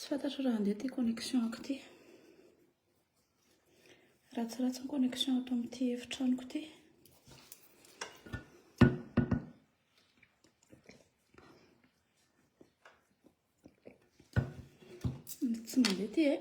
Tsy fantatro raha handeha ity connexion-ko ity. Ratsiratsy ny connexion ato amin'ity efitranoko ity. Tsy mandeha ity eh.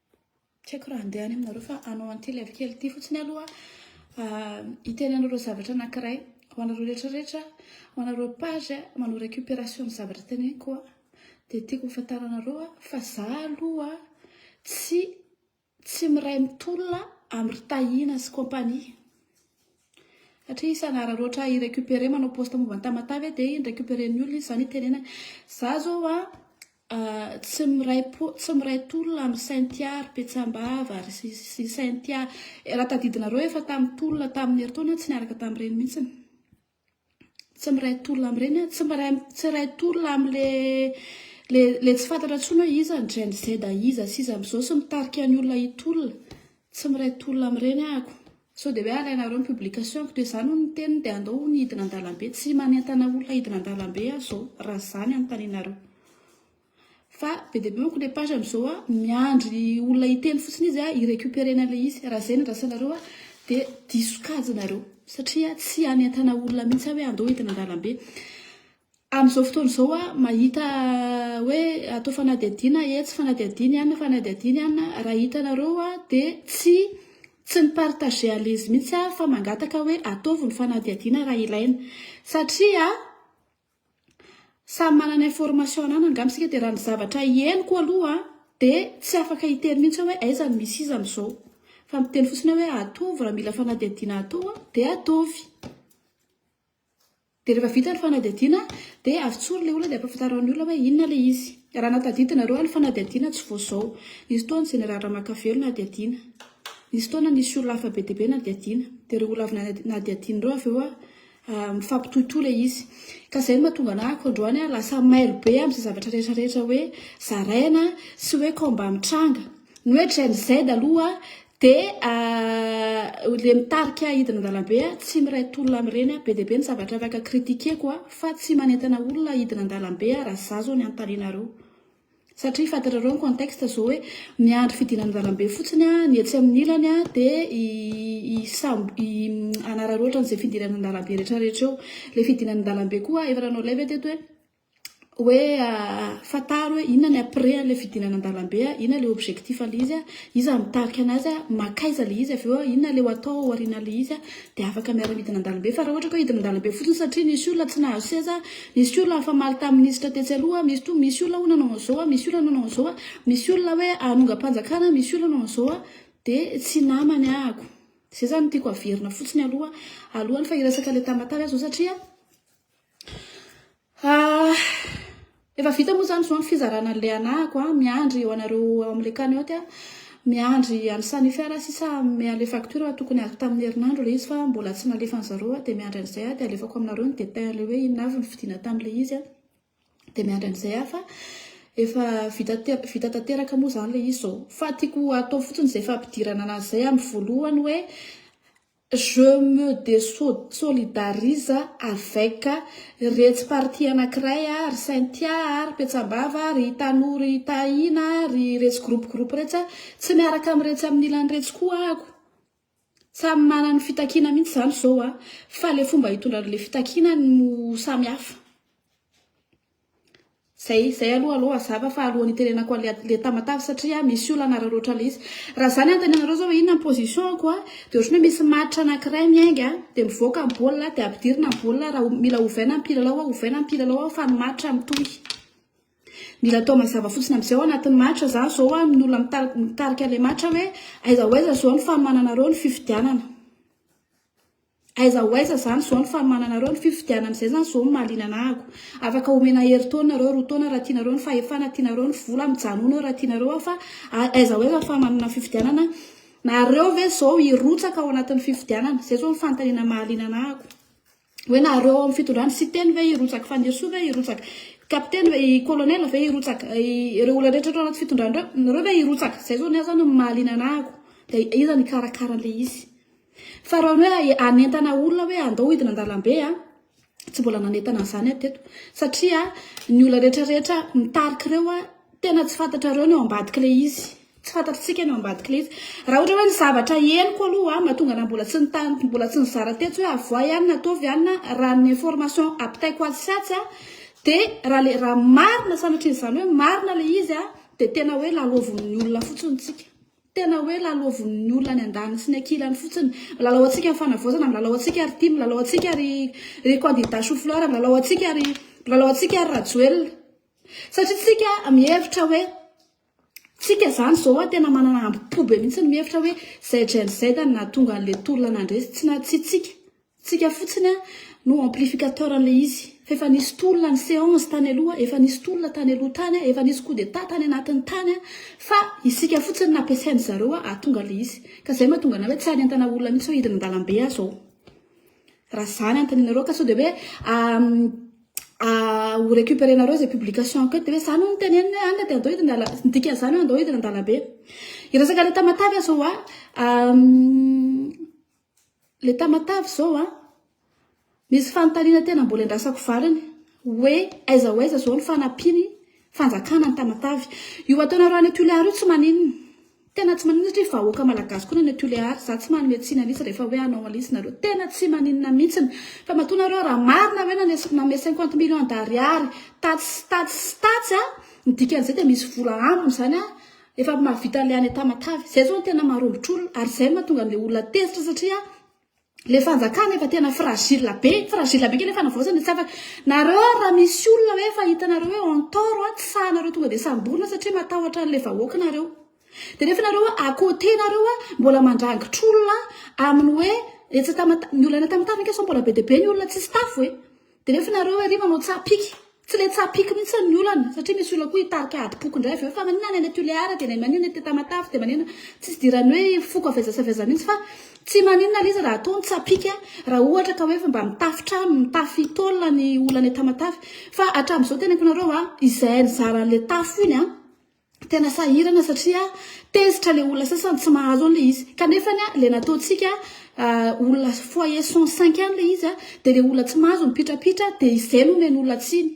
Tsy haiko raha handeha any aminareo fa hanao an'ity live kely ity fotsiny aloha hiteny anareo zavatra anankiray ho anareo rehetra rehetra ho anareo page manao récupération ny zavatra teneniko a dia tiako hofantaranareo a fa za aloha tsy tsy miray mitolona amin'ny ry Tahiana sy compagnie satria izy hanararaotra hi récupérer manao post momba ny Tamatave dia hi récupérer ny olona izy izany hitenenany za zao a Tsy miray po, tsy miray tolona amin'i Cynthia ry Petsambava ry sy Cynthia. Raha tadidinareo efa tamin'ny tolona tamin'ny herintaona tsy niaraka tamin'ireny mihitsy. Tsy miray tolona amin'ireny, tsy miray tsy iray tolona amin'le le le tsy fantatra intsony hoe iza ny Gen Z iza sy iza amin'izao sy mitarika ny olona hitolona. Tsy miray tolona amin'ireny aho. Sao dia hoe alainareo ny publication-ko dia izany hono ny teniny dia andao hono hidina an-dalambe. Tsy manentana olona hidina an-dalambe aho izao raha izany anontanianareo. Fa be dia be manko ilay page amin'izao hoe miandry olona hiteny fotsiny izy hi-recuperer-na ilay izy. Raha izay no andrasanareo dia diso kajy nareo satria tsy hanentana olona mihitsy aho hoe andao hidina an-dalambe. Amin'izao fotoana izao aho mahita hoe atao fanadihadiana etsy, fanadihadiana any, fanadihadiana any. Raha hitanareo aho dia tsy tsy mi-partager an'izy mihitsy aho fa mangataka hoe ataovy ny fanadihadiana raha ilaina. Satria samy manana information ananany angamba isika dia raha ny zavatra henoko aloha dia tsy afaka hiteny mihitsy aho hoe aiza no misy izy amin'izao. Fa miteny fotsiny aho hoe ataovy raha mila fanadihadiana atao dia ataovy. Dia rehefa vita ny fanadihadiana dia avy tsory ilay olona dia ampahafantarao ny olona hoe inona ilay izy. Raha nahatadidinareo ary ny fanadihadiana tsy vao izao. Nisy fotoana ny Jeneraly Ramakavelo nadihadiana. Nisy fotoana nisy olona hafa be dia be nadihadiana. Dia ireo olona avy nadihadiana ireo avy eo mifampitohitohy ilay izy. Ka izay no mahatonga anah ko androany lasa mailo be amin'izay zavatra rehetra rehetra hoe zaraina sy hoe combat mitranga. Ny hoe Gen Z aloha dia ilay mitarika hidina an-dalambe, tsy miray tolona amin'ireny. Be dia be ny zavatra afaka critiquer-ko fa tsy manentana olona hidina an-dalambe aho raha izaho izao ny hanontanianareo. Satria fantatrareo ny contexte izao hoe miandry fidinana an-dalambe fotsiny ny etsy amin'ny ilany dia hanararaotra an'izay fidinana an-dalambe rehetrarehetra eo. Ilay fidinana an-dalambe koa efa nanao live aho teto hoe. hoe fantaro hoe inona ny après an'ilay fidinana an-dalambe, inona ilay objectif an'ilay izy, iza mitarika an'azy, mankaiza ilay izy, avy eo inona ilay ho atao aorianan'ilay izy, dia afaka miara-midina an-dalambe. Fa raha ohatra ka hidina an-dalambe fotsiny satria nisy olona tsy nahazo seza, nisy olona nifamaly tamin'ny minisitra tetsy aloha, misy to, misy olona hono nanao an'izao, misy olona nanao an'izao, misy olona hoe hanongam-panjakana, misy olona nanao an'izao, dia tsy namany ahako. Izay izany no tiako haverina fotsiny aloha, alohan'ny fa hiresaka ilay tamatave aho izao satria. Ah, efa vita moa zany zao ny fizarana an'ilay anahako a, miandry ho anareo ao amin'ilay cagnotte aho, miandry an'i Sanifi raha sisa hanome an'ilay facture fa tokony azoko tamin'ny herinandro ilay izy fa mbola tsy nalefan'i zareo aho dia miandry an'izay aho dia alefako aminareo ny détail an'ilay hoe inona avy ny vidiana tamin'ilay izy a, dia miandry an'izay aho fa efa vita te- vita tanteraka moa zany ilay izy izao fa tiako hatao fotsiny izay fampidirana anazy izay amin'ny voalohany hoe. Je me deso solidarise avec retsy parti anakiray a, ry Cynthia a, ry Petsambava a, ry Tanou ry Tahina a, ry retsy groupe groupe retsy a, tsy miaraka am retsy am ilany retsy koa ako. Samy manana ny fitakiana mintsy zany zao a, fa le fomba hitondra anle fitakiana no samy hafa. Zay zay aloha alou azava fa alohan'ny hiterenako anle le tamatave satria misy olana raha loatra le izy. Raha za ny anontanenareo zao hoe inona ny position ko a de otrany hoe misy match anakiray miainga a de mivoaka ny baolina a de ampidirina ny baolina a raha mila ovaina ny mpilalao a ovaina ny mpilalao a fa ny match mitohy. Mila atao mazava fotsiny amzay ao anatin'ny match za zao a ny olona mitari- mitarika le match hoe aiza ho aiza zao ny fanomananareo ny fifidianana. Aiza ho aiza zany zao ny fanomananareo ny fifidianana izay zany zao no mahaliana anah ako afaka omena herintaona nareo roa taona raha tianareo ny fahefana tianareo ny vola mijanona eo raha tianareo aho fa aiza ho aiza ny fanomanana ny fifidianana nareo ve zao hirotsaka ao anatin'ny fifidianana izay zao ny fanontaniana mahaliana anah ako hoe nareo ao amin'ny fitondrana siteny ve hirotsaka fanirisoa ve hirotsaka kapiteny ve i kolonela ve hirotsaka ireo olona rehetra ato anaty fitondrana ireo nareo ve hirotsaka izay zao ny ahy zany no mahaliana anah ako dia iza no hikarakara an'ilay izy Fa raha ny hoe hanentana olona hoe andao hidina an-dalambe a, tsy mbola nanentana an'izany aho teto. Satria ny olona rehetrarehetra mitarika ireo a, tena tsy fantatrareo ny ao ambadik'ilay izy. Tsy fantatr'tsika ny ao ambadik'ilay izy. Raha ohatra hoe ny zavatra henoko aloha mahatonga anà mbola tsy nitany, mbola tsy nizara tetsy hoe avoahy any na ataovy any na raha ny information ampitaiko atsy sy atsy a, dia raha le, raha marina sanatrian'izany hoe marina ilay izy a, dia tena hoe lalaovin'ny olona fotsiny tsika. Tena hoe lalaovin'ny olona any andaniny sy ny ankilany fotsiny. Milalao antsika ny fanavaozana, milalao antsika ry tim, milalao antsika ry ry kandida choux fleur, milalao antsika ry milalao antsika ry Rajoelina. Satria tsika mihevitra hoe tsika zany zao a tena manana ambo-po be mihitsy ny mihevitra hoe zay Gen Z no nahatonga an'le tolona nandresy tsy na tsy tsika. Tsika fotsiny no amplificateur an'ilay izy. Fa efa nisy tolona ny seance tany aloha, efa nisy tolona tany aloha tany, efa nisy coup d'etat tany anatiny tany, fa isika fotsiny no nampiasain-dry zareo hahatonga an'ilay izy. Ka izay mahatonga anay hoe tsy any an-tanà olona mihitsy hoe hidina an-dalambe aho izao. Raha izany anontanenareo ka sao dia hoe ho recuperenareo izay publication-ko eto dia hoe izany hono no teneniny hoe any dia andao hidina an-dalambe, ny dikan'izany hoe andao hidina an-dalambe. Hiresaka an'ilay tamatave aho izao an. Le Tamatave zao a, misy fanontaniana tena mbola endrasako valiny hoe aiza ho aiza zao ny fanampian'ny fanjakana ny Tamatave. Io ataonareo any Tulear io tsy maninona, tena tsy maninona satria vahoaka malagasy koa ny any Tulear, za tsy manome tsiny an'isa rehefa hoe hanao an'isa nareo, tena tsy maninona mintsiny fa matoa nareo raha marina hoe nanes- nanome cinquante millions d'ariary tatsy sy tatsy sy tatsy a, ny dikan'izay dia misy vola ambiny zany a, Efa mahavita le any Tamatave. Zay zao no tena marombotr'olona ary zay no mahatonga an'le olona tezitra satria le fanjakana efa tena fragile be, fragile be kely ny fanavaozana tsy afaka. Nareo ary raha misy olona hoe efa hitanareo hoe en tort an, tsy sahanareo tonga de samborina satria matahotra an'le vahoaka nareo. De nefa nareo hoe à côté nareo an, mbola mandrangitr'olona amin'ny hoe etsy Tamatave, ny olona any Tamatave ange sao mbola be dia be ny olona tsisy tafo e. Dia nefa nareo ery manao tsaha piky. Tsy le tsaha piky mihitsy ny olana satria misy olona koa hitarika adim-poko indray avy eo fa maninona any any Tulear dia maninona any Tamatave dia maninona tsy fidirany hoe foko avy aiza sy avy aiza mihitsy fa tsy maninona le izy raha atao ny tsaha piky raha ohatra ka hoe efa mba mitafy trano mitafy tôle ny olona any Tamatave fa hatramin'izao teneniko nareo a izay nizara an'le tafo iny a Tena sahirana satria tezitra le olona sasany tsy mahazo an'le izy. Kanefa ny le nataontsika olona foyer 105 any le izy dia le olona tsy mahazo mipitrapitra dia izay no omeny olona tsiny.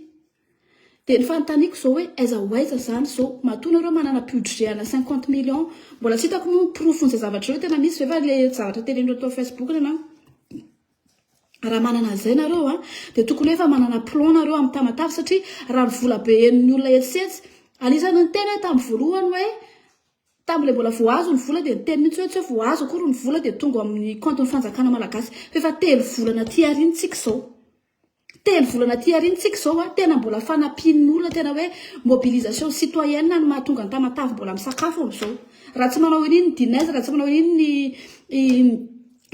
Dia ny fanontaniako izao hoe aiza ho aiza izany izao? Matoa nareo manana budget ana 50 millions, mbola tsy hitako moa ny porofon'izay zavatra ireo tena misy ve fa le zavatra teren'ireo tao facebook na. Raha manana an'izay nareo a, dia tokony efa manana plan nareo amin'ny tamatave satria raha ny vola be henon'ny olona etsy sy etsy, anisan'ny niteny aho tamin'ny voalohany hoe tamin'ilay mbola vao azo ny vola dia niteny mihitsy hoe tsy hoe vao azo akory ny vola dia tonga ao amin'ny kaontin'ny fanjakana malagasy f'efa telo volana aty aoriana tsika izao. Telo volana aty aoriana tsika izao a, tena mbola fanampian'ny olona tena hoe mobilisation citoyenne no mahatonga ny Tamatave mbola misakafo amin'izao. Raha tsy manao an'iny ny Dinez, raha tsy manao an'iny ny i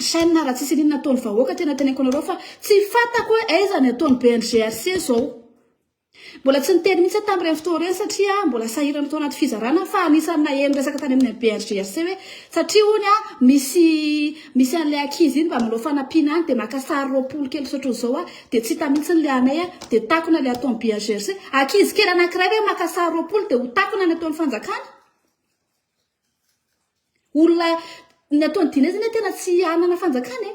Chen, raha tsisy an'iny ny ataon'ny vahoaka, tena teneniko anareo fa tsy fantako hoe aiza ny ataon'ny BNGRC izao. Mbola tsy niteny mihitsy aho tamin'ireny fotoana ireny satria mbola sahirana tao anaty fizarana aho fa anisan'ny naheno resaka tany amin'ny BHGHC hoe satria hono aho misy misy an'ilay ankizy iny mba manao fanampiana any dia maka sary roapolo kely tsy ohatran'izao aho dia tsy hita mihitsy ilay anay aho dia takona ilay ataon'ny BHGHC. Ankizy kely anankiray ve maka sary roapolo dia ho takona ny ataon'ny fanjakana? Olona ny ataon'ny Dina zany tena tsy hanana fanjakana e!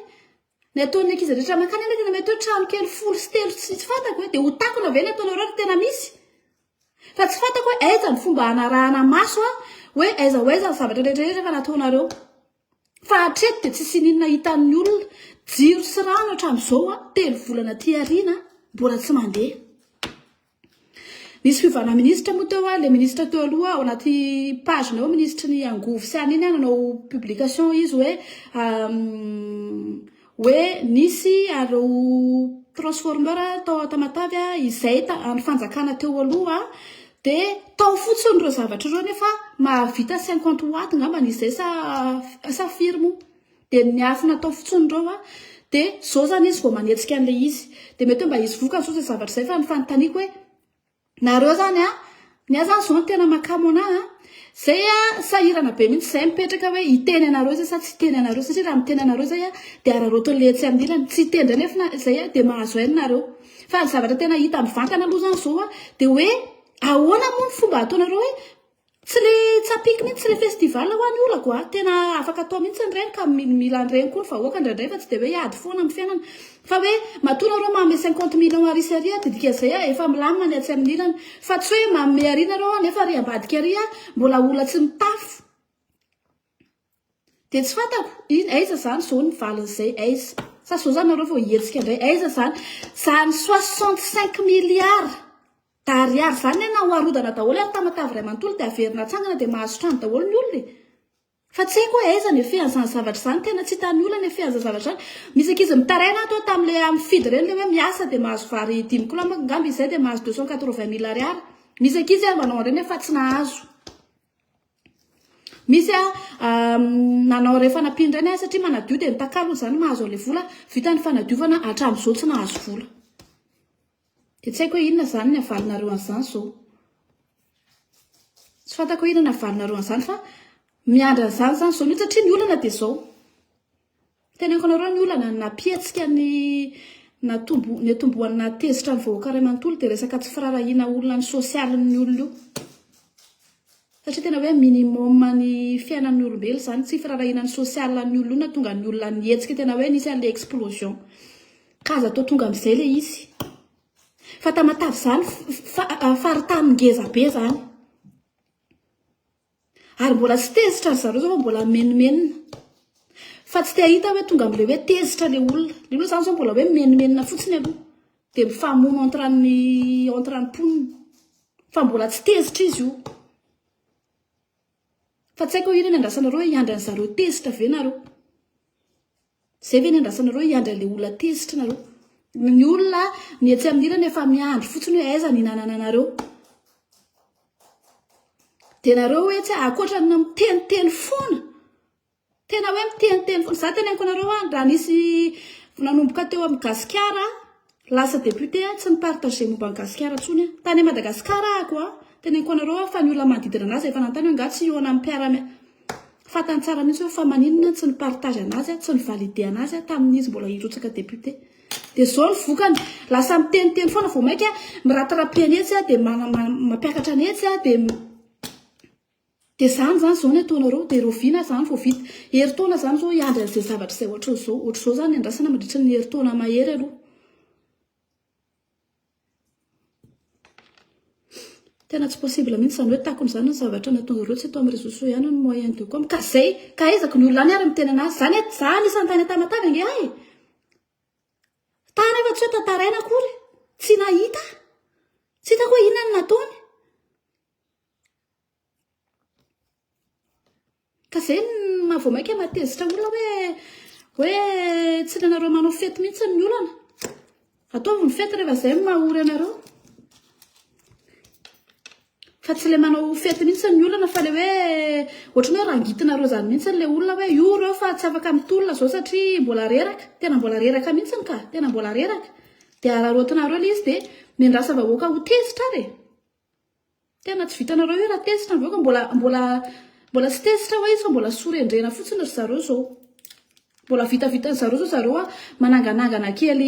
Ny ataon'ny ankizy rehetra mankany anefa na mety hoe trano kely folo sy telo tsy tsy fantako hoe dia ho takona ve ny ataonareo ry tena misy? Fa tsy fantako hoe aiza ny fomba hanarahana maso a hoe aiza ho aiza ny zavatra rehetra rehetra efa nataonareo. Fa hatreto dia tsy sininina hitan'ny olona jiro sy rano hatramin'izao a, telo volana aty aoriana mbola tsy mandeha. Nisy fiovana ministra moa teo a, le ministra teo aloha ao anaty page nao ministry ny angovo sy an'iny a nanao publication izy hoe hoe nisy areo transformeur tao Tamatave a izay an'ny fanjakana teo aloha de tao fotsiny ireo zavatra ireo nefa mahavita 50 watts ngambany izay sa sa firy moa. Dia ny afo natao fotsiny ireo a, dia izao izany izy vao manetsika an'ilay izy. Dia mety hoe mba hisy vokany izao izay zavatra izay fa ny fanontaniako hoe, nareo izany a, ny ahy izany izao no tena mahakamo an'ahy a, izay a, sahirana be mihitsy izay mipetraka hoe hiteny anareo izay sa tsy hiteny anareo, satria raha miteny anareo izay a, dia araraotin'ilay etsy amin'ny ilany, tsy hiteny indray nefa na izay a, dia mahazo aina nareo. Fa ny zavatra tena hita mivantana aloha izany izao a, dia hoe ahoana moa ny fomba ataonareo hoe, Tsy le tsapiky mintsy le festival hoa ny olako a, tena afaka atao mintsy ny reny ka mila ny reny koa ny vahoaka indraindray fa tsy de hoe hiady foana amin'ny fiainana fa hoe matoa nareo manome cinquante millions àry isary a dia dikan'izay a efa milamina ny atsy amin'ny ilany fa tsy hoe manome àry nareo a nefa àry ambadika àry a mbola olona tsy mitafo Dia tsy fantako in aiza zany zao ny valin'izay aiza? Sa zao zany nareo vao hihetsika indray aiza zany zany soixante cinq milliards d'ariary zany ne na ho arodana daholo ary tamatave iray manontolo dia averina atsangana dia mahazo trano daholo ny olona e! Fa tsy haiko hoe aiza ny effet an'izany zavatra izany, tena tsy hitan'ny olona ny effet an'izany zavatra izany. Misy ankizy mitaraina ato hoe tamin'ilay amin'ny fidy ireny ilay hoe miasa dia mahazo vary dimy kilao manko angamba izy izay dia mahazo deux cent quatre vingt mille ariary. Misy ankizy ary manao an'ireny hoe fa tsy nahazo. Misy a nanao re fanampiana indray ny ahy satria manadio dia mitakalo hoy izany mahazo an'ilay vola vita ny fanadiovana hatramin'izao tsy nahazo vola. Dia tsy haiko hoe inona izany ny havalinareo an'izany izao. Tsy fantako hoe inona ny havalinareo an'izany fa miandry an'izany izany izao mihitsy satria ny olana dia izao. Teneniko anareo ny olana nampihetsika ny natombo niatombohan'ny nahatezitra ny vahoaka iray manontolo dia resaka tsy firarahiana olona ny sosialin'ny olona io. Satria tena hoe minimum ny fiainan'ny olombelo izany tsy firarahiana ny sosialin'ny olona io nahatonga ny olona nihetsika tena hoe nisy an'ilay explosion. Ka aza atao tonga amin'izay ilay izy. Fa tamatavy izany fa- faritany ngezabe izany. Ary mbola tsy tezitra ry zareo zao fa mbola mimenomenona. Fa tsy te ahita hoe tonga amin'ilay hoe tezitra ilay olona. Ilay olona izany zao mbola hoe mimenomenona fotsiny aloha. Dia mifamono entre an'ny entre ny mponina. Fa mbola tsy tezitra izy io. Fa tsy haiko hoe inona no iandrasanareo hoe hiandry an'izareo tezitra ve nareo. Zay ve ny andrasanareo hiandry anle olona tezitra nareo? Ny olona ny etsy amin'ny ilany efa miandry fotsiny hoe aiza ny hinanananareo. Dia nareo hoe tsy akoatra ny miteniteny foana. Tena hoe miteniteny foana. Za teneniko anareo a raha nisy nanomboka teo amin'ny gasikara Lasa député aho tsy mi-partager momba an'i Gasikara intsony aho. Tany Madagascar aho ko a! Teneniko anareo aho fa ny olona manodidina anazy efa nanontany hoe angaha tsy hihaona amin'ny mpiara-miasa. Fantany tsara mihitsy hoe fa maninona tsy ni-partage anazy aho, tsy ni-valider anazy aho tamin'ny izy mbola hirotsaka député. Dia izao ny vokany, lasa miteniteny foana vao mainka miratirapi an'etsy aho dia mampiakatra an'etsy aho dia. Dia zany zany zao ny ataonareo dia raoviana zany vao vita? Herintaona zany zao hiandry an'izay zavatra izay ohatran'izao? Ohatr'izao zany ny andrasana mandritra ny herintaona mahery aloha. Tena tsy possible mihitsy izany hoe takona izany ny zavatra nataonareo tsy eto amin'ny réseaux sociaux ihany ny moyen de com. Ka zay, ka aiza ny olona any ary miteny anazy. Zany et za anisan'ny tany Tamatave ange ahy. Tany afa tsy hoe tantaraina akory. Tsy nahita. Tsy hitako hoe inona no nataony. Ka zay no maha vao maika maha tezitra olona hoe hoe tsy ilainareo manao fety mihitsy ny olana. Ataovy ny fety rehefa zay no maha ory anareo. Fa tsy le manao fety mihitsy ny olana fa le hoe ohatran'ny hoe rangitinareo zany mihitsy le olona hoe io reo fa tsy afaka mitolona zao satria mbola reraka. Tena mbola reraka mihitsy ka. Tena mbola reraka. Dia araraotinareo le izy dia mendrasa vahoaka ho tezitra ary e. Tena tsy vitanareo io raha tezitra avy eo ka mbola mbola mbola tsy tezitra hoe io sao mbola sorendrena fotsiny ry zareo zao. Mbola vitavitan'ny zareo zao zareo a mananganangana kely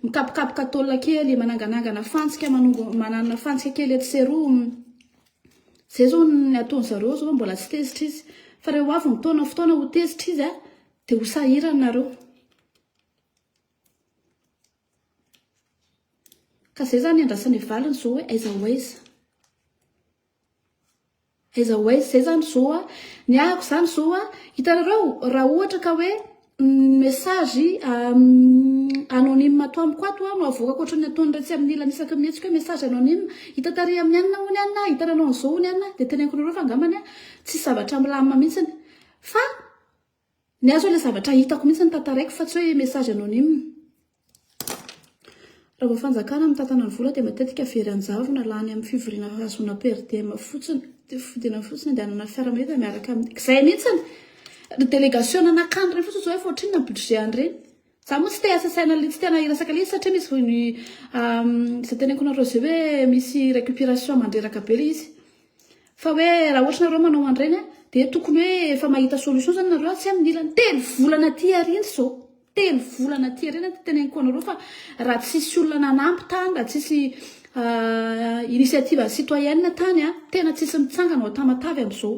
mikapokapoka tôle kely, mananganangana fantsika manongo manana fantsika kely etsy sy eroa. Zay zao ny ataon'ny zareo zao mbola tsy tezitra izy fa re ho avy ny fotoana fotoana ho tezitra izy a de ho sahirana nareo. Ka zay zany iandrasana ny valiny zao hoe aiza ho aiza? Aiza ho aiza? Zay zany zao a, ny ahiko zany zao a, hitanareo raha ohatra ka hoe ny message anonyme ato amiko ato a no avoakako ohatran'ny ataon'iretsy amin'ny ilany isaky ny mihetsika hoe message anonyme, hita tary amin'ny anona hono anona, hitan'ny anao an'izao hono anona, dia teneniko anareo fa angambany a tsisy zavatra milamina mihitsiny fa. Ny ahy zao ilay zavatra hitako mihitsy no tantaraiko fa tsy hoe message anonyme. Raha vao fanjakana mitantana ny vola dia matetika very an-javona, lany amin'ny fivoriana hahazoana per diem fotsiny, dia fodiana fotsiny andehanana fiara mahita miaraka amin'ny, izay mihitsy ny delegasiona nakany ireny fotsiny izao efa ohatrinona ny budget an'ireny. Za moa tsy te asa saina tsy tena hiresaka le izy satria misy voiny izay teneniko nareo zay hoe misy récupération mandreraka be le izy fa hoe raha ohatra nareo manao an'ireny a de tokony hoe efa mahita solution zany nareo tsy amin'ny ilany telo volana aty aoriana izao telo volana aty aoriana no teneniko anareo fa raha tsisy olona nanampy tany raha tsisy initiative citoyenne tany a tena tsisy mitsangana ao Tamatave amin'izao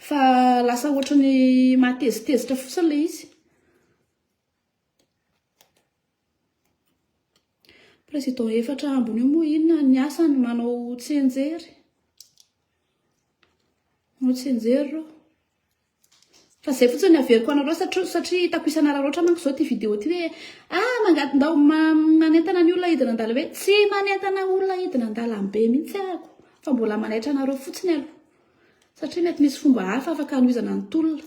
Fa lasa ohatra ny mahatezitezitra fotsiny ilay izy. Président efatra ambiny io moa inona ny asany manao tsenjery. Manao tsenjery ireo. Fa izay fotsiny ny averiko anareo satria satria hitako isan'araraotra manko izao ity vidéo ity hoe ah mangady ndao manentana ny olona hidina an-dalambe hoe tsy manentana olona hidina an-dalambe mihitsy ahako fa mbola manaitra anareo fotsiny aloha. Satria mety misy fomba hafa afaka hanohizana ny tolona.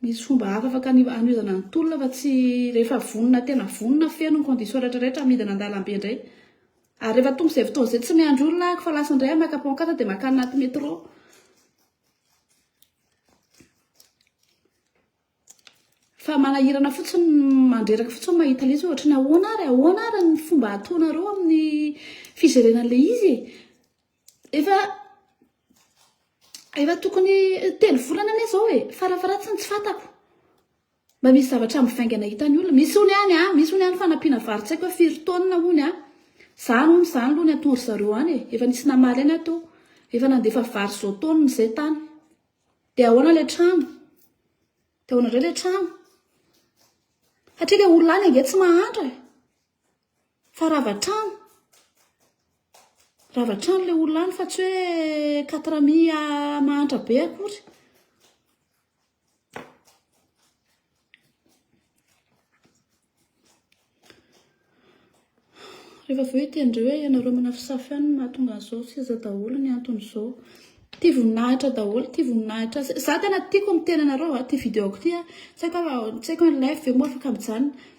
Misy fomba hafa afaka hanohizana ny tolona fa tsy rehefa vonona tena vonona feno ny condition rehetra rehetra midina an-dalambe indray. Ary rehefa tonga izay fotoana izay tsy miandry olona ahako fa lasa indray aho maka pancarte dia makany anaty métro. Fa manahirana fotsiny mandreraka fotsiny mahita ilay izy ohatra ny ahoana ary ahoana ary ny fomba ataonareo amin'ny fijerena an'ilay izy e. Efa efa tokony telo volana anie zao e, farafaharatsiny tsy fantako. Mba misy zavatra mivaingana hitan'ny olona. Misy ony any a, misy ony any fanampiana vary tsy haiko firy taonina ony a. Zany ony zany aloha ny atoro zareo any e. Efa nisy namaly any aho teo. Efa nandefa vary zao taonina zay tany. De ahoana le trano? De ahoana ndray le trano? Hatria le olona any ange tsy mahantra e. Fa rava hatrany, rava hatrany ilay olona any fa tsy hoe quatre mi mahantra be akory. Rehefa avy eo hiteny hoe ianareo manafisafy any no mahatonga an'izao, seza daholo ny anton'izao. Tia voninahitra daholo, tia voninahitra. Za tena tiako miteny anareo, ity vidéo-ko ity. Tsy haiko an'i Life ve moa afaka mijanona.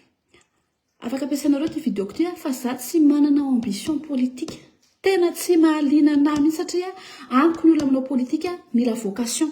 Afaka ampiasainareo ity vidéoko ity fa za tsy manana ambition politique. Tena tsy mahaliana anahy mihitsy satria amiko ny olona manao politique mila vocation.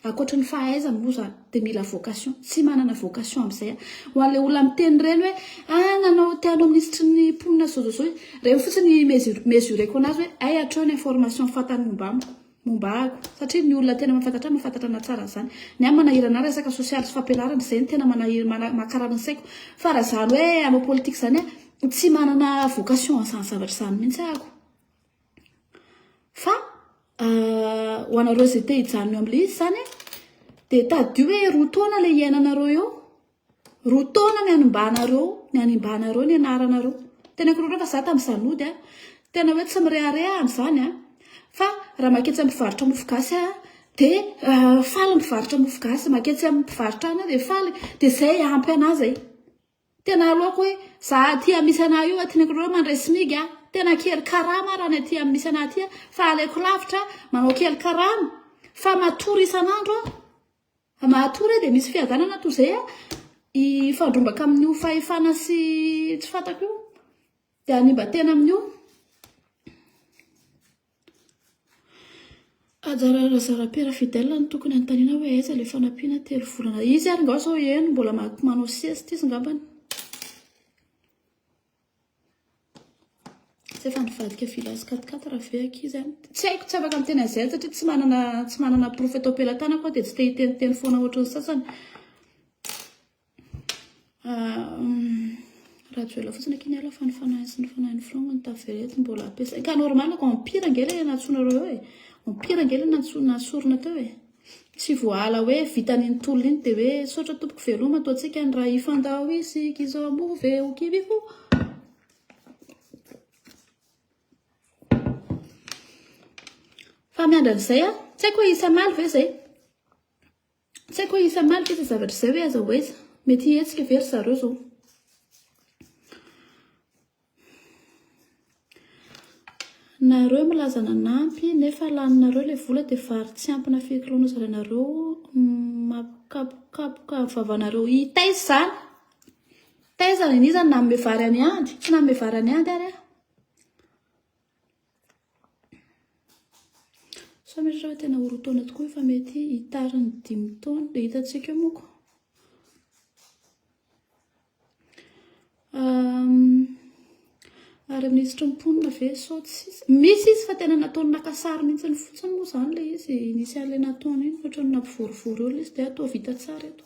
Ankoatry ny fahaizany moa zany dia mila vocation. Tsy manana vocation amin'izay aho. Ho an'ilay olona miteny ireny hoe ah nanao teo hanao minisitry ny mponina zao zao zao izy. Ireny fotsiny ny mesureko anazy hoe hay hatreo ny information fantany momba amiko. momba ahy ko satria ny olona tena mahafantatra ahy mahafantatra anahy tsara zany ny ahy manahiry anahy resaka sosialy sy fampianarana izay no tena manahiry mana- makarary ny saiko fa raha zany hoe hanao politika zany aho tsy manana vocation an'izany zavatra izany mihitsy aho ko fa ah, ho anareo izay te hijanona eo amin'ilay izy zany dia tadidio hoe roa taona ilay iainanareo eo Roa taona ny hanimbanareo, ny hanimbanareo ny anaranareo. Tena korontana fa za tam zanody a, tena hoe tsy mirehareha aho amzany a, fa raha maketsy am mpivarotra mofo gasy aho de faly mpivarotra mofo gasy, maketsy am mpivarotra any aho de faly, de zay ampy anah zay, tena aleoko hoe za aty am misy anah io aty ny akoronao mandray smig a, tena kely karama raha ny aty am misy anah aty a, fa aleoko lavitra manao kely karama fa matory isan'andro aho. Mahatory e, dia misy fiadanana toy izay hifandrombaka amin'io fahefana sy tsy fantako io, dia hanimba tena amin'io. Ajarara Razarapera Fidel no tokony hanontaniana hoe aiza ilay fanampiana telo volana. Izy ary ngah sao eny mbola manao sieste izy ngambany. Tsy efa nivadika village quatre quatre raha ve ankizy an? Tsy haiko, tsy afaka miteny an'izay satria tsy manana tsy manana porofo eto am-pelatanako aho dia tsy te hiteniteny foana ohatry ny sasany. Rajoelina fotsiny akia niala fa ny fanahy sy ny fanahin'ny filoha no taverety mbola ampiasaina. Ka normal ko empire ange ilay nantsoinareo eo e. Empire ange ilay nantsoina sorona teo e. Tsy voahala hoe vitany iny tolona iny dia hoe misaotra tompoko veloma toa antsika ny ra ifandao isika izao move ho kivy ho fa miandry an'izay a tsy haiko hoe isamaly ve zay tsy haiko hoe isamaly ve zay zavatra izay hoe aza ho aiza mety hihetsika ve ry zareo zao Nareo milaza nanampy nefa laninareo ilay vola dia vary tsy ampy na firy kilona zarainareo makapokapoka ny vavanareo i taiza zany? Taiza? Iza no nanome vary an'i Andy? Tsy nanome vary an'i Andy ary aho. Samy ohatra hoe tena ho roa taona tokoa io fa mety hitary ny dimy taona dia hitantsika eo moako. Ary minisitry ny mponina ve sao tsisy? Misy izy fa tena nataony naka sary mihitsy ny fotsiny moa izany ilay izy nisy an'ilay nataony iny ohatra ny nampivorivory eo ilay izy dia toa vita tsara eto.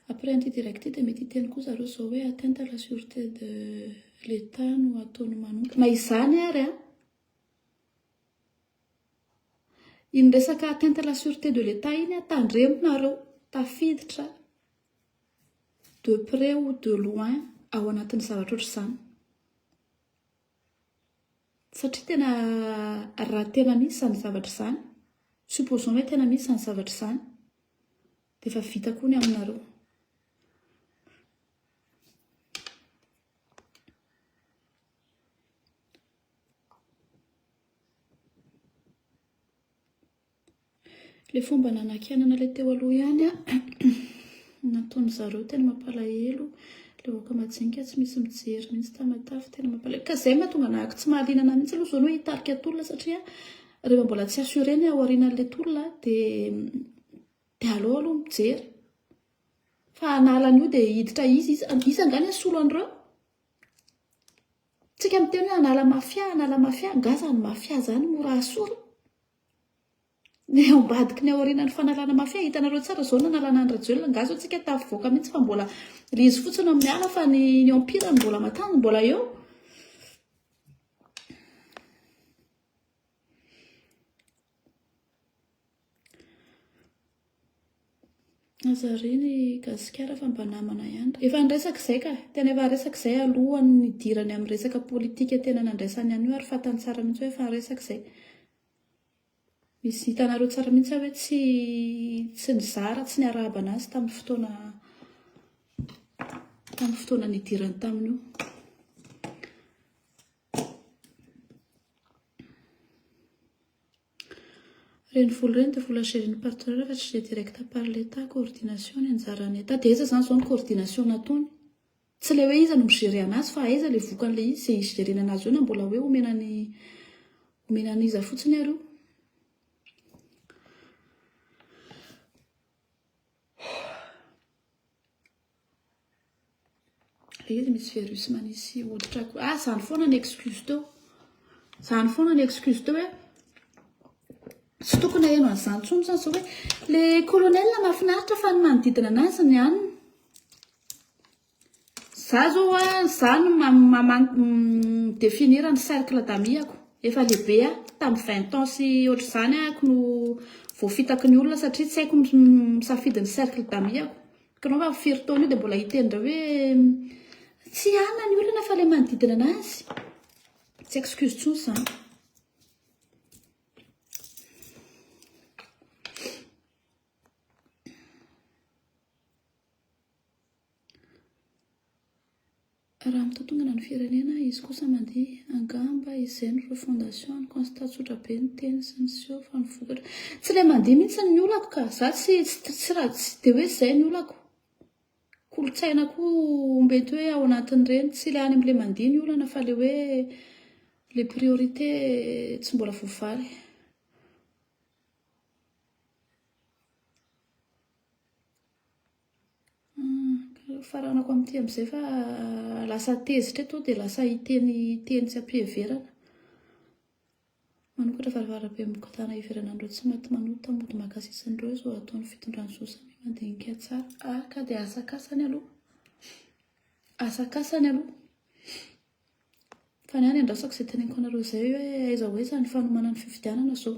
Après an'ity direct ity dia mety hiteny koa zareo zao hoe atteinte à la sûreté de l'Etat no ataony manontona izany ary an! Iny resaka atteinte à la sûreté de l'Etat iny an, tandremo nareo, tafiditra de près ou de loin ao anatin'ny zavatra ohatr'izany. Satria tena raha tena misy izany zavatra izany, supposons hoe tena misy izany zavatra izany, dia efa vita koa ny aminareo. Ilay fomba nanakianana ilay teo aloha ihany an, nataony zareo tena mampalahelo, ilay vahoaka majinika tsy misy mijery mihitsy tamatave, tena mampalahelo, ka izay no mahatonga anah tsy mahaliana mihitsy aloha izao ny hoe hitarika tolona satria rehefa mbola tsy assuré ny ao aorianan'ilay tolona dia dia aleo aloha mijery, fa hanala an'io dia hiditra iza iza, iza angaha ny hasolo an'ireo? Tsika miteny hoe hanala mafia, hanala mafia, angaha izany mafia izany mora hasolo? Ny ao ambadiky ny aorianan'ny fanalana mafia hitanareo tsara zao ny nanalana an'i Rajoelina angaha zao tsika tafivoaka mihitsy fa mbola le izy fotsiny no miala fa ny ny empire mbola matany mbola eo Aza re ny gasikara fa mba namana ihany. Efa niresaka izay ka. Tena efa niresaka izay alohan'ny nidirany amin'ny resaka politika tena nandraisany an'io ary fantany tsara mihitsy hoe efa niresaka izay. Misy hitanareo tsara mihitsy aho hoe tsy tsy nizara, tsy niarahaba an'azy tamin'ny fotoana tamin'ny fotoana nidirany tamin'io. Ireny vola ireny dia vola gérena par tireur fa tsy gère directe par l'Etat, coordination ny anjaran'ny Etat, dia aiza izany izao ny coordination nataony? Tsy ilay hoe iza no mi-gérer anazy fa aiza ilay vokan'ilay izy izay hi-gérena anazy eo na mbola hoe omena an'i omena an'iza fotsiny ary io? Izy misy virus manisy hoditra koa. Ah, zany foana ny excuse teo. Zany foana ny excuse teo hoe tsy tokony aheno an'izany intsony zany zao hoe le colonel mahafinaritra fa ny manodidina anazy ny anona. Za zao a, za no mi-definir ny cercle d'amis-ako. Efa lehibe aho, tamin'ny vingt ans sy ohatr'izany aho no voafitaky ny olona satria tsy haiko ny misafidy ny cercle d'amis-ako. Kanao vavy firy taona io dia mbola hiteny indray hoe tsy hanina ny olona fa ilay manodidina anazy. Tsy excuse intsony izany. Raha mitontongana ny firenena izy kosa mandihy, angamba izay no refondation any constat tsotra be ny teny sy ny seho fa ny vokatra tsy ilay mandihy mihitsy ny olako ka! Za tsy tsy de hoe zay ny olako, kolotsaina koa mety hoe ao anatin'ireny, tsy ilay any amin'ilay mandihy ny olana fa ilay hoe le priorité tsy mbola voavaly. Faranako amin'ity amin'izay fa lasa tezitra eto dia lasa hiteny teny tsy am-piheverana. Manokatra varavarambe mikotana hiverana an'ireo tsy maty manota mody mahakasisa an'ireo izao ataon'ny fitondran'i Zo samia mandinika tsara. Ah ka dia asakasany aloha, asakasany aloha. Fa ny ahy ny andrasako izay teneniko anareo izay hoe aiza ho aiza ny fanomanan'ny fifidianana izao.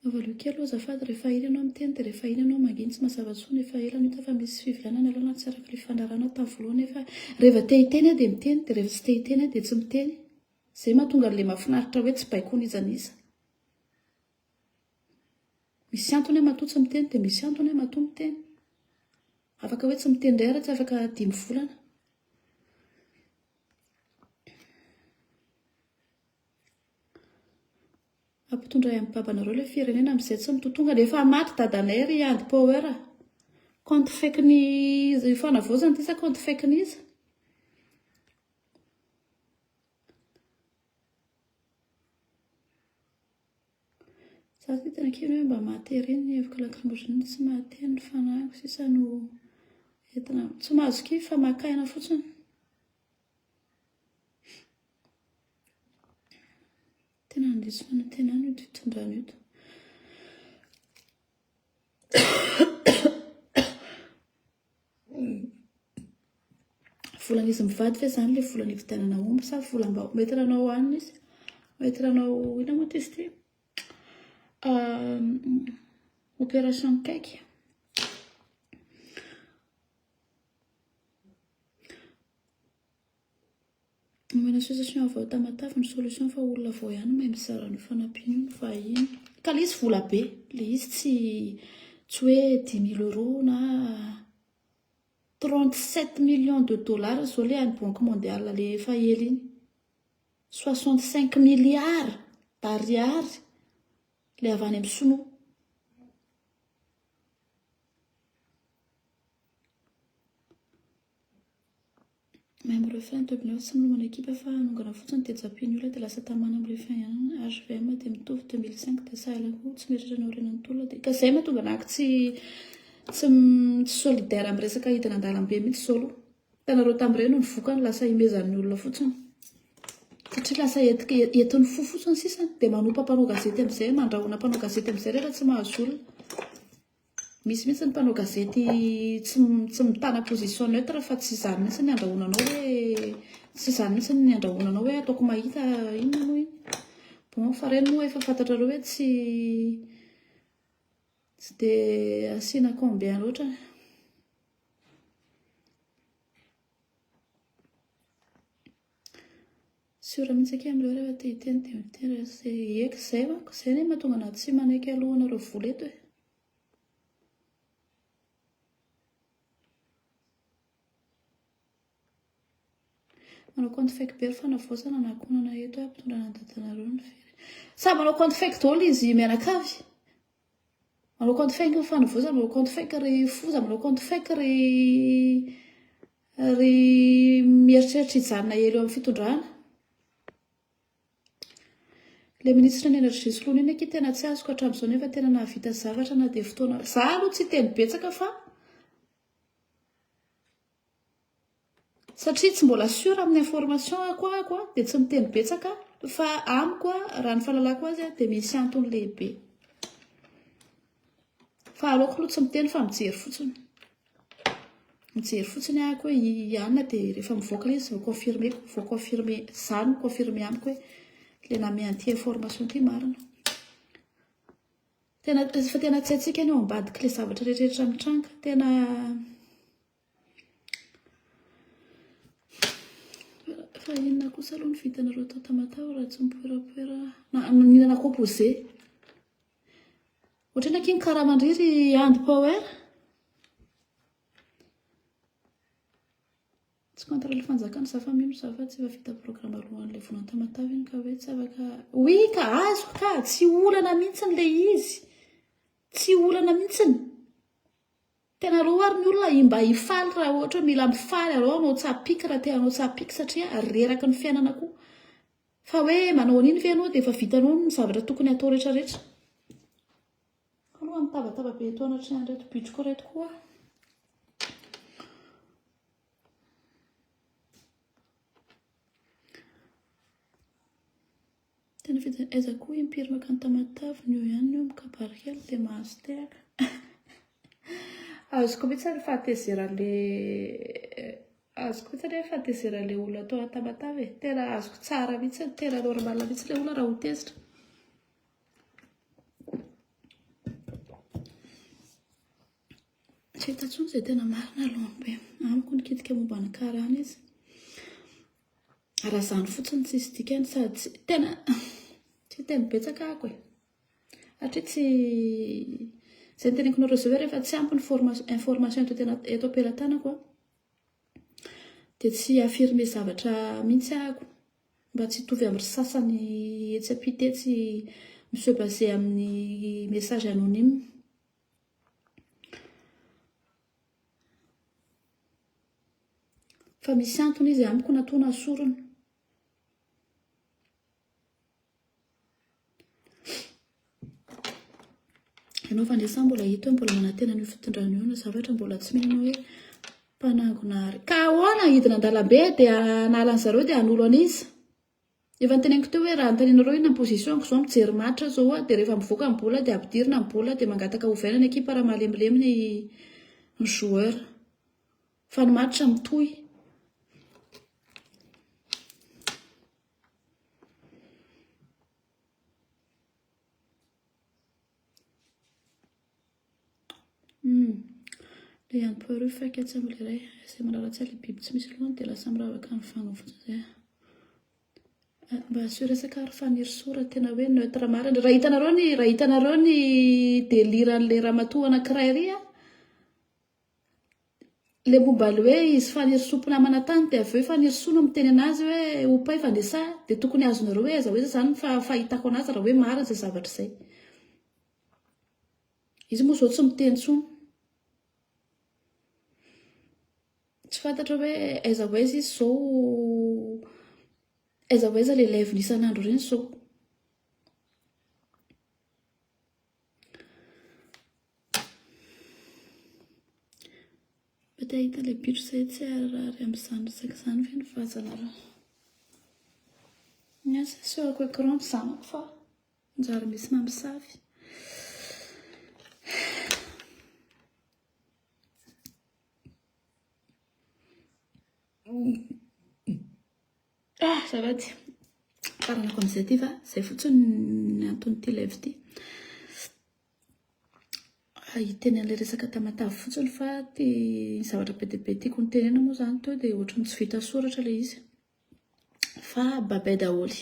Avalio kely o azafady, rehefa ela ianao miteny dia rehefa ela ianao mangina tsy mazava intsony, efa ela no hita fa misy fifidianana aloha na tsy araka ny fandaharana tamin'ny voalohany nefa reheva te hiteny aho dia miteny dia rehefa tsy te hiteny aho dia tsy miteny, izay mahatonga an'ilay mahafinaritra hoe tsy baiko n'iza n'iza. Misy antony aho matoa tsy miteny dia misy antony aho matoa miteny. Afaka hoe tsy miteny indray ary tsy afaka dimy volana. Ampitondray am babanareo le firenena amizay tsy mitotonga de efa maty dadanay ry Ady power a! Compte fake ny io fanavaozana ity sa compte fake n'iza? Za zao tena kely hoe mba mahatery ny heviko lacrymogène tsy mahatery ny fanahiko sisa no entina tsy mahazo kivy fa maka aina fotsiny tena handiso fanantenana io fitondrana io Volana izy mivady ve zany le volana ividianana omby sa volambao? Mety ranao anina izy. Mety ranao ina moa izy ty? Ehm, opération cake. Omena association avy ao Tamatave ny solution fa olona vao ihany mahay mizara ny fanampiany ny vahiny. Ka le izy vola be, le izy tsy tsy hoe dix mille euros na 37 millions de dollars zao le any banque mondiale le efa ela iny. 65 milliards d'ariary le avy any amin'ny sinoa. Membre refa entrepreneur tsy minomana ekipa fa hanongana fotsiny dia japin'ny olona dia lasa tamana am refa ihany HVM dia mitovy 2005 dia sahala koa tsy mieritreritra ny aorianan'ny tolona dia ka zay mahatonga anah tsy tsy solidaire am resaka hidina andalambe mihitsy zao aloha hitanareo tam reny ny vokany lasa himezan'ny olona fotsiny satria lasa etika entin'ny fo fotsiny sisa dia manompa mpanao gazety amizay mandrahona mpanao gazety amizay refa tsy mahazo olona. Misy mihitsy ny mpanao gazety tsy tsy mitana position neutre fa tsy izany mihitsy ny andrahonanao hoe tsy izany mihitsy ny andrahonanao hoe ataoko mahita inona moa iny. Bon fa ireny moa efa fantatrareo hoe tsy tsy dia asiana combien loatra. Sûr mintsy akia amreo refa te hiteny de miteny refa tsy eka zay manko zay anie mahatonga anah tsy manaiky aloha anareo vola eto e. Manao compte fake be ry fanavaozana na akonana eto e, ampitondranan'ny dadanareo ny very. Samy manao compte fake daholo izy mianakavy. Manao compte fake ny Fanavoza, manao compte fake ry Foza, manao compte fake ry ry mieritreritra hijanona ela eo amin'ny fitondrana. Ilay ministre ny énergie soloina iny akia tena tsy azoko hatramin'izao nefa tena nahavita zavatra na dia fotoana, za aloha tsy hiteny betsaka fa. Satria tsy mbola sûr amin'ny information ako ako dia tsy miteny betsaka fa amiko raha ny fahalalako azy dia misy antony lehibe. Fa aleoko aloha tsy miteny fa mijery fotsiny. Mijery fotsiny aho koa i Anna dia rehefa mivoaka ilay izy vao confirmer, vao confirmer, izaho no mi-confirmer amiko hoe ilay nanome an'ity information ity marina. Tena efa tena tsy hatsiaka ny ao ambadik'ilay zavatra rehetrarehetra mitranga. Tena fa inona kosa aloha ny vitanareo tao Tamatave raha tsy mipoerapoera na mihinana composé. Ohatrany aky ny karaman-dry ry Andy Power. Tsy contre ilay fanjakana za fa mino za fa tsy efa vita programme alohan'ilay volana tamatave iny ka hoe tsy afaka oui ka azoko ka tsy olana mihitsy ny le izy tsy olana mihitsy ny tena roa ary ny olona mba hifaly raha ohatra mila mifaly areo anao tsapiky raha teanao tsapiky satria reraka ny fiainana koa fa hoe manao an'iny ve ianao dia efa vitanao ny zavatra tokony hatao rehetrarehetra Roa mitabataba be eto anatrehan'ireto bitriko ireto koa. Tena fidina aiza koa impiry makany tamataviny eo ihany eo mikabarikely dia mahazo tehaka. Azoko mihitsy ny fahatezeran'le eh, azoko mihitsy ny fahatezeran'le olona atao antamatavy e. Tena azoko tsara mihitsy, tena normal mihitsy le olona raha ho tezitra. Tsy hita intsony izay tena marina aloha be. Amiko nikitika momba ny karana izy. Raha izany fotsiny tsisy dikany sady tsy tena tsy tena betsaka ako e. Hatria tsy izay teneniko nareo izay rehefa tsy ampy ny information eto tena eto am-pelatanako dia tsy affirmer zavatra mihitsy ako. Mba tsy hitovy amin'ny ry sasany etsy ampita etsy mi se baser amin'ny message anonyme. Fa misy antony izy amiko natoa nasorina. Ianao fa ndray sa mbola hita hoe mbola manantena an'io fitondrana io na zavatra mbola tsy mino hoe mpanangona ary. Ka ahoana hidina an-dalambe dia hanala an'i zareo dia hanolo an'iza? Efa noteneniko teo hoe raha anontanianareo inona ny position-ko izao mijery match aho izao dia rehefa mivoaka ny bola dia ampidirina ny bola dia mangataka ovaina ny ekipa raha malemilemy ny ny joueur. Fa ny match mitohy. Lean'ny poireau faiky atsy amin'ny iray izay mirara tsara ilay biby tsy misy lohany dia lasa miravaka ny vanga fotsiny izay. Ah, mba asio resaka ary fanirisoa raha tena hoe neutre marina. Raha hitanareo ny raha hitanareo ny délire an'ilay ramatoa anankiray iry an, Ilay momba ilay hoe izy fanirisoa mpinamana tany dia avy eo i fanirisoa no miteny an'azy hoe ho mpaivana e sa dia tokony azonareo hoe aiza ho aiza izany fa fahitako an'azy raha hoe marina izay zavatra izay. Izy moa izao tsy miteny intsony. Tsy fantatra hoe aiza ho aiza izy izao aiza ho aiza ilay live-ny isan'andro ireny izao. Mety hahita ilay bitro izay tsy haharary amin'izany resaka izany ve ny vaza nareo? Ny ahy sasy eo ako écran ny zanako fa njary misy mamisavy. Ah, azafady. Faranako amin'izay ity fa izay fotsiny ny anton'ity live ity. Hiteny an'ilay resaka tamatavy fotsiny fa ty zavatra be dia be tiako nitenena moa izany teo dia ohatran'ny tsy vita soratra ilay izy. Fa babay daholo.